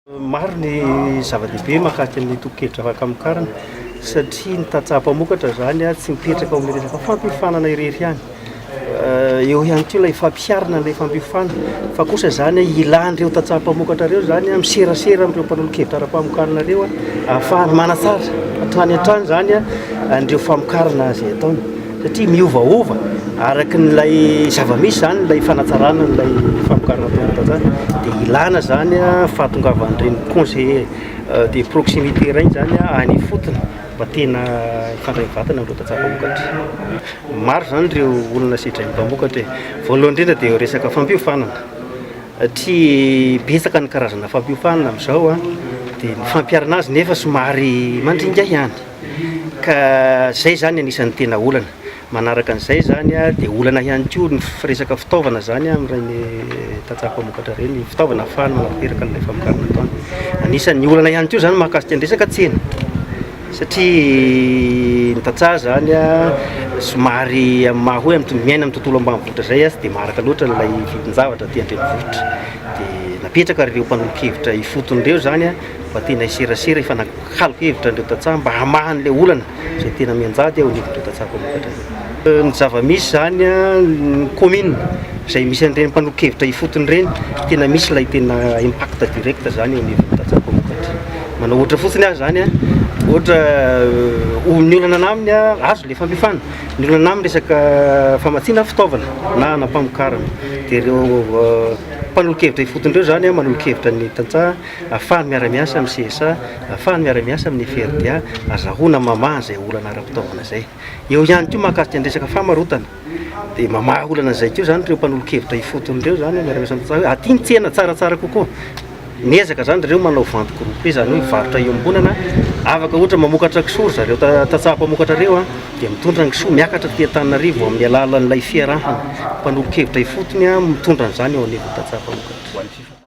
Maro ny zava-dehibe mahakasika ny tobin-kevitra fahakamokarana satria ny tantsaha mpamokatra izany tsy mipetraka ao amin'ny resaka fampiofanana irery ihany. Eh, eo ihany koa ilay fampiharana an'ilay fampiofana fa kosa izany ilan'ireo tantsaha mpamokatra ireo izany miserasera amin'ireo mpanolo-kevitra ara-pamokarana ireo ahafahana manatsara hatrany hatrany izany an'ireo famokarana izay ataony. satria miovaova araka n'ilay zava-misy izany ilay fanatsarana an'ilay famokarana tombontazana, dia ilana izany fahatongavan'ireny conseiller euh, de proximité ireny izany any ifotony mba tena hifandray mivantana amin'ireo tantsaha mpamokatra. Maro izany ireo olona sedrain'ny mpamokatra e. Voalohany indrindra dia eo resaka fampiofanana, satria betsaka ny karazana fampiofanana amin'izao a, dia ny fampiharana azy nefa somary mandringa ihany. Ka izay izany anisan'ny tena olana. Manaraka an'izay izany dia olana ihany koa ny resaka fitaovana izany amin'ireny tantsaha mpamokatra ireny, fitaovana ahafahany manatanteraka an'ilay famokarana ataony. Anisan'ny olana ihany koa izany mahakasika ny resaka tsena satria ny tantsaha izany somary amin'ny maha hoe miaina amin'ny tontolo ambanivohitra izay tsy dia maharaka loatra ilay vidin-javatra aty an-drenivohitra. Dia napetraka ireo mpanolo-kevitra ifotony ireo izany Fa tena hiserasera hifanakaloka hevitra an'ireo tantsaha mba hamaha an'ilay olana izay tena mianjady eo anivon'ireo tantsaha mpamokatra ireo. Ny zava-misy izany, ny kaominina izay misy an'ireny mpanolo-kevitra ifotony ireny, tena misy ilay tena impact direct izany eo anivon'ny tantsaha mpamokatra. Manao ohatra fotsiny aho izany, ohatra oh, ny olana anah aminy, azo ilay fandrifana, ny olana anah amin'ny resaka famatsiana fitaovana na hanam-pamokarana. Dia ireo mpanolo-kevitra ifotony ireo izany manolo-kevitra ny tantsaha. Afahany miara-miasa amin'ny CSA, afahany miara-miasa amin'ny FRDA, azahoana mamaha izay olana ara-pitaovana izay. Eo ihany koa mahakasika ny resaka famarotana, dia mamaha olana izay koa izany ireo mpanolo-kevitra ifotony ireo izany, miara-miasa amin'ny CSA hoe aty ny tsena tsaratsara kokoa. Miezaka izany ry zareo manao vente groupée, izany hoe mivarotra iombonana, afaka ohatra mamokatra kisoa ry zareo tantsaha mpamokatra ireo an, dia mitondra ny kisoa miakatra aty Antananarivo amin'ny alalan'ilay fiarahana mpanolo-kevitra ifotony mitondra an'izany eo anivon'ny tantsaha mpamokatra.